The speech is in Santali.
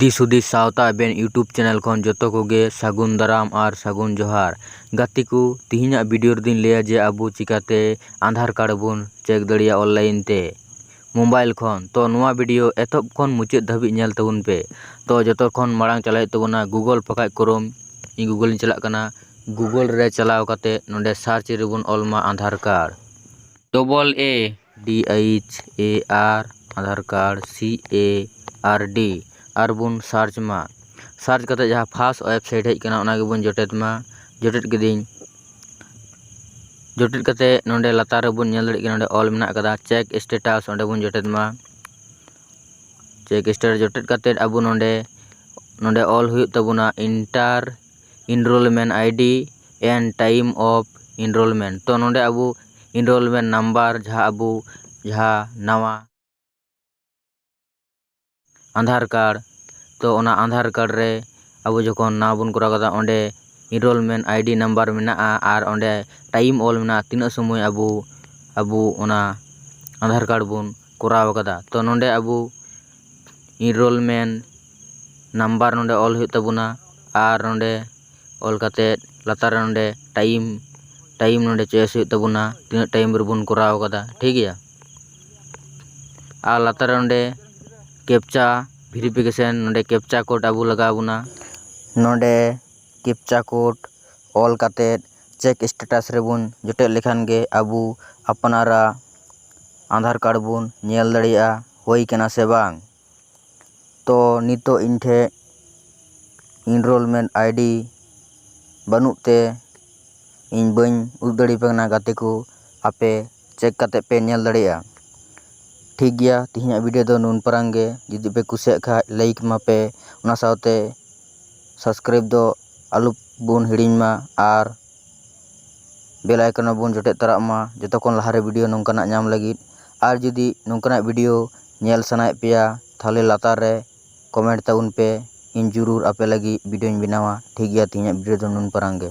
ᱫᱤᱥ ᱦᱩᱫᱤᱥ ᱥᱟᱶᱛᱟ ᱟᱵᱮᱱ ᱭᱩᱴᱩᱵᱽ ᱪᱮᱱᱮᱞ ᱠᱷᱚᱱ ᱡᱚᱛᱚ ᱠᱚᱜᱮ ᱥᱟᱹᱜᱩᱱ ᱫᱟᱨᱟᱢ ᱟᱨ ᱥᱟᱹᱜᱩᱱ ᱡᱚᱦᱟᱨ ᱜᱟᱛᱮ ᱠᱚ ᱛᱮᱦᱮᱧᱟᱜ ᱵᱷᱤᱰᱤᱭᱳ ᱨᱮᱫᱚᱧ ᱞᱟᱹᱭᱟ ᱡᱮ ᱟᱵᱚ ᱪᱤᱠᱟᱹᱛᱮ ᱟᱫᱷᱟᱨ ᱠᱟᱨᱰ ᱵᱚᱱ ᱪᱮᱠ ᱫᱟᱲᱮᱭᱟᱜᱼᱟ ᱚᱱᱞᱟᱭᱤᱱ ᱛᱮ ᱢᱳᱵᱟᱭᱤᱞ ᱠᱷᱚᱱ ᱛᱚ ᱱᱚᱶᱟ ᱵᱷᱤᱰᱤᱭᱳ ᱮᱛᱚᱦᱚᱵ ᱠᱷᱚᱱ ᱢᱩᱪᱟᱹᱫ ᱫᱷᱟᱹᱵᱤᱡ ᱧᱮᱞ ᱛᱟᱵᱚᱱ ᱯᱮ ᱛᱚ ᱡᱚᱛᱚ ᱠᱷᱚᱱ ᱢᱟᱲᱟᱝ ᱪᱟᱞᱟᱜ ᱦᱩᱭᱩᱜ ᱛᱟᱵᱚᱱᱟ ᱜᱩᱜᱳᱞ ᱵᱟᱠᱷᱟᱡ ᱠᱨᱳᱢ ᱤᱧ ᱜᱩᱜᱳᱞ ᱤᱧ ᱪᱟᱞᱟᱜ ᱠᱟᱱᱟ ᱜᱩᱜᱳᱞ ᱨᱮ ᱪᱟᱞᱟᱣ ᱠᱟᱛᱮ ᱱᱚᱰᱮ ᱥᱟᱨᱪ ᱨᱮᱵᱚᱱ ᱚᱞ ᱢᱟ Aadhaar card double A D H A R Aadhaar card C A R D ᱟᱨ ᱵᱚᱱ ᱥᱟᱨᱪ ᱢᱟ ᱥᱟᱨᱪ ᱠᱟᱛᱮ ᱡᱟᱦᱟᱸ ᱯᱷᱟᱥ ᱳᱭᱮᱵᱥᱟᱭᱤᱴ ᱦᱮᱡ ᱟᱠᱟᱱᱟ ᱚᱱᱟ ᱜᱮᱵᱚᱱ ᱡᱚᱴᱮᱫ ᱢᱟ ᱡᱚᱴᱮᱫ ᱠᱤᱫᱟᱹᱧ ᱡᱚᱴᱮᱫ ᱠᱟᱛᱮᱫ ᱱᱚᱸᱰᱮ ᱞᱟᱛᱟᱨ ᱨᱮᱵᱚᱱ ᱧᱮᱞ ᱫᱟᱲᱮᱭᱟᱜ ᱠᱟᱱᱟ ᱱᱚᱸᱰᱮ ᱚᱞ ᱢᱮᱱᱟᱜ ᱠᱟᱫᱟ ᱪᱮᱠ ᱥᱴᱮᱴᱟᱥ ᱚᱸᱰᱮ ᱵᱚᱱ ᱡᱚᱴᱮᱫ ᱢᱟ ᱪᱮᱠ ᱥᱴᱮᱴᱟᱥ ᱡᱚᱴᱮᱫ ᱠᱟᱛᱮᱫ ᱟᱵᱚ ᱱᱚᱸᱰᱮ ᱱᱚᱸᱰᱮ ᱚᱞ ᱦᱩᱭᱩᱜ ᱛᱟᱵᱚᱱᱟ enter enrollment ID and time of enrollment ᱛᱚ ᱱᱚᱸᱰᱮ ᱟᱵᱚ ᱤᱱᱨᱳᱞᱢᱮᱱᱴ ᱱᱟᱢᱵᱟᱨ ᱡᱟᱦᱟᱸ ᱟᱵᱚ ᱡᱟᱦᱟᱸ ᱱᱟᱣᱟ ᱟᱫᱷᱟᱨ ᱠᱟᱨᱰ ᱛᱚ ᱚᱱᱟ ᱟᱫᱷᱟᱨ ᱠᱟᱨᱰ ᱨᱮ ᱟᱵᱚ ᱡᱚᱠᱷᱚᱱ ᱱᱟᱣᱟ ᱵᱚᱱ ᱠᱚᱨᱟᱣ ᱠᱮᱫᱟ ᱚᱸᱰᱮ ᱤᱱᱨᱳᱞᱢᱮᱱᱴ ᱟᱭᱰᱤ ᱱᱟᱢᱵᱟᱨ ᱢᱮᱱᱟᱜᱼᱟ ᱟᱨ ᱚᱸᱰᱮ ᱴᱟᱭᱤᱢ ᱚᱞ ᱢᱮᱱᱟᱜᱼᱟ ᱛᱤᱱᱟᱹᱜ ᱥᱚᱢᱚᱭ ᱟᱵᱚ ᱟᱵᱚ ᱚᱱᱟ ᱟᱫᱷᱟᱨ ᱠᱟᱨᱰ ᱵᱚᱱ ᱠᱚᱨᱟᱣ ᱠᱟᱫᱟ ᱛᱚ ᱱᱚᱸᱰᱮ ᱟᱵᱚ ᱤᱱᱨᱳᱞᱢᱮᱱᱴ ᱱᱟᱢᱵᱟᱨ ᱱᱚᱸᱰᱮ ᱚᱞ ᱦᱩᱭᱩᱜ ᱛᱟᱵᱚᱱᱟ ᱟᱨ ᱱᱚᱸᱰᱮ ᱚᱞ ᱠᱟᱛᱮᱫ ᱞᱟᱛᱟᱨ ᱨᱮ ᱱᱚᱸᱰᱮ ᱴᱟᱭᱤᱢ ᱴᱟᱭᱤᱢ ᱱᱚᱸᱰᱮ ᱪᱚᱭᱮᱥ ᱦᱩᱭᱩᱜ ᱛᱟᱵᱚᱱᱟ ᱛᱤᱱᱟᱹᱜ ᱴᱟᱭᱤᱢ ᱨᱮᱵᱚᱱ ᱠᱚᱨᱟᱣ ᱠᱟᱫᱟ ᱴᱷᱤᱠ ᱜᱮᱭᱟ ᱟᱨ ᱞᱟᱛᱟᱨ ᱨᱮ ᱚᱸᱰᱮ ᱠᱮᱯᱪᱟ ᱵᱷᱮᱨᱤᱯᱷᱤᱠᱮᱥᱮᱱ ᱱᱚᱸᱰᱮ ᱠᱮᱯᱪᱟ ᱠᱳᱰ ᱟᱹᱜᱩ ᱞᱟᱜᱟᱣ ᱵᱚᱱᱟ ᱱᱚᱸᱰᱮ ᱠᱮᱯᱪᱟ ᱠᱳᱰ ᱚᱞ ᱠᱟᱛᱮ ᱪᱮᱠ ᱮᱥᱴᱮᱴᱟᱥ ᱨᱮᱵᱚᱱ ᱡᱚᱴᱮᱫ ᱞᱮᱠᱷᱟᱱ ᱜᱮ ᱟᱵᱚ ᱟᱯᱱᱟᱨᱟᱜ ᱟᱫᱷᱟᱨ ᱠᱟᱨᱰ ᱵᱚᱱ ᱧᱮᱞ ᱫᱟᱲᱮᱭᱟᱜᱼᱟ ᱦᱩᱭ ᱠᱟᱱᱟ ᱥᱮ ᱵᱟᱝ ᱛᱚ ᱱᱤᱛᱚᱜ ᱤᱧ ᱴᱷᱮᱱ ᱤᱱᱨᱳᱞᱢᱮᱱᱴ ᱟᱭᱰᱤ ᱵᱟᱹᱱᱩᱜ ᱛᱮ ᱤᱧ ᱵᱟᱹᱧ ᱩᱫᱩᱜ ᱫᱟᱲᱮ ᱟᱯᱮ ᱠᱟᱱᱟ ᱜᱟᱛᱮ ᱠᱚ ᱟᱯᱮ ᱪᱮᱠ ᱠᱟᱛᱮᱫ ᱯᱮ ᱧᱮᱞ ᱫᱟᱲᱮᱭᱟᱜᱼᱟ ᱴᱷᱤᱠ ᱜᱮᱭᱟ ᱛᱮᱦᱮᱧᱟᱜ ᱵᱷᱤᱰᱭᱳ ᱫᱚ ᱱᱩᱱ ᱯᱟᱨᱟᱝ ᱜᱮ ᱡᱩᱫᱤ ᱯᱮ ᱠᱩᱥᱤᱭᱟᱜ ᱠᱷᱟᱱ ᱞᱟᱭᱤᱠ ᱢᱟᱯᱮ ᱚᱱᱟ ᱥᱟᱶᱛᱮ ᱥᱟᱵᱥᱠᱨᱟᱭᱤᱵᱽ ᱫᱚ ᱟᱞᱚ ᱵᱚᱱ ᱦᱤᱲᱤᱧ ᱢᱟ ᱟᱨ ᱵᱮᱞ ᱟᱭᱠᱚᱱ ᱨᱮᱵᱚᱱ ᱡᱚᱴᱮᱫ ᱛᱚᱨᱟᱜ ᱢᱟ ᱡᱚᱛᱚ ᱠᱷᱚᱱ ᱞᱟᱦᱟ ᱨᱮ ᱵᱷᱤᱰᱤᱭᱳ ᱱᱚᱝᱠᱟᱱᱟᱜ ᱧᱟᱢ ᱞᱟᱹᱜᱤᱫ ᱟᱨ ᱡᱩᱫᱤ ᱱᱚᱝᱠᱟᱱᱟᱜ ᱵᱷᱤᱰᱤᱭᱳ ᱧᱮᱞ ᱥᱟᱱᱟᱭᱮᱫ ᱯᱮᱭᱟ ᱛᱟᱦᱚᱞᱮ ᱞᱟᱛᱟᱨ ᱨᱮ ᱠᱚᱢᱮᱱᱴ ᱛᱟᱵᱚᱱ ᱯᱮ ᱤᱧ ᱡᱩᱨᱩᱨ ᱟᱯᱮ ᱞᱟᱹᱜᱤᱫ ᱵᱷᱤᱰᱤᱭᱳᱧ ᱵᱮᱱᱟᱣᱟ ᱴᱷᱤᱠ ᱜᱮᱭᱟ ᱛᱮᱦᱮᱧᱟᱜ ᱵᱷᱤᱰᱤᱭᱳ ᱫᱚ ᱱᱩᱱ ᱯᱟᱨᱟᱝ ᱜᱮ